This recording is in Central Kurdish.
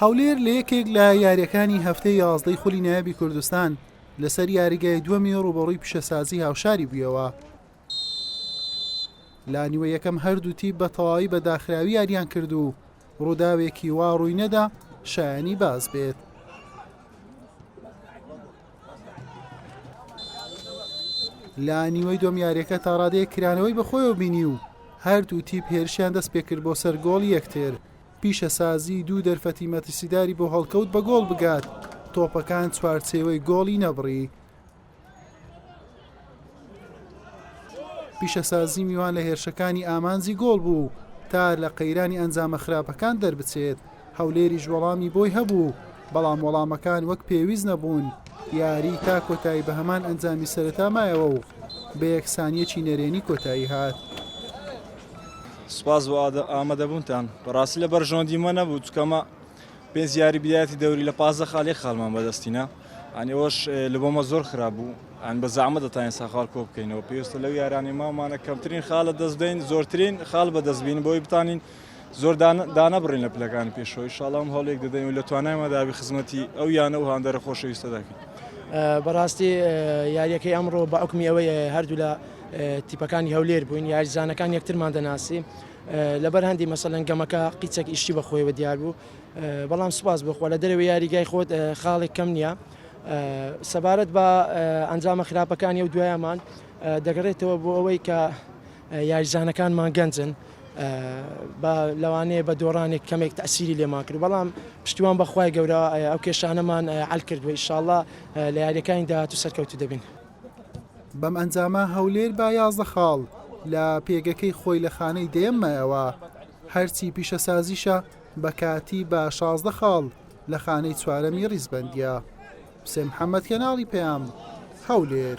هەولێر لە یەکێک لە یاریەکانی هەفتەی یازدەی خولی نایابی کوردستان لەسەر یاریگای دووەمی ڕوبەڕووی پیشەسازی هاوشاری بوویەوە لانیوە یەکەم هەردوو تیپ بە تەواوی بە داخراوی یاریان کرد و ڕووداوێکی وا ڕووی نەدا شایانی باز بێت لە نیوەی دۆم یاریەکە تا ڕادەیە کرانەوەی بەخۆیەوە بینی و هەردوو تیپ هێرشیان دەست پێکرد بۆ سەر گۆڵ یەکتر پیشەسازی دوو دەرفەتی مەترسیداری بۆ هەڵکەوت بە گۆڵ بگات تۆپەکان چوارچێوەی گۆڵی نەبڕی پیشەسازی میوان لە هێرشەکانی ئامانجی گۆڵ بوو تا لە قەیرانی ئەنجامە خراپەکان دەربچێت هەولێریش وەڵامی بۆی هەبوو بەڵام وەڵامەکان وەک پێویست نەبوون یاری تا کۆتایی بە هەمان ئەنجامی سەرەتا مایەوە و بە یەکسانیەکی نەرێنی کۆتایی هات. سپاس بۆ ئامادەبوونتان بەڕاستی لە بەرژەوەندی مە نەبوو چکەمە پێنج یاری بدایەتی دەوری لە پازدە خاڵ یەک خاڵمان بەدەستینا ئەنی ئەوەش لە بۆمە زۆر خراپ بوو ئەن بە زەعمە دەتانین ساخال کۆ بکەینەوە پێویستە لەو یارانی مامانە کەمترین خاڵە دەست بدەین زۆرترین خاڵ بەدەستبین بۆی بتانین زۆر دانەبڕین لە پلەکانی پێشەوەی شاڵام هەڵێک دەدەین و لە توانایمە دابی خزمەتی ئەو یانە و هاندەرە خۆشەویستە دەکەین. بەڕاستی یاریەکەی ئەمڕۆ بە ئۆکمی ئەوەی هەردوو لە تیپەکانی هەولێر بووین یاریزانەکان یەکترمان دەناسی لەبەر هەندی مەسەلەن گەمەکە قیچەک ئیشی بە خۆیەوە دیار بوو بەڵام سوپاس بۆ خۆ لە دەرەوەی یاریگای خۆت خاڵێک کەم نییە سەبارەت بە ئەنجامە خراپەکانی و دوایەمان دەگەڕێتەوە بۆ ئەوەی کە یاریزانەکانمان گەنجن بە لەوانەیە بە دۆڕانێک کەمێک تاسیری لێمان کرد بەڵام پشتیوان بەخوای گەورە ئەو کێشانەمان ئەل کردووە ئیشاءله لە یاریەکانی داهات و سەرکەوتو دەبین. بەم ئەنجامە هەولێر بە یازدە خاڵ لە پێگەکەی خۆی لە خانەی دەیەم مایەوە، هەرچی پیشەسازیشە بە کاتی بە شازدە خاڵ لە خانەی چوارەمی ریزبەندییە. حوسێن محەممەد، کەناڵی پەیام، هەولێر.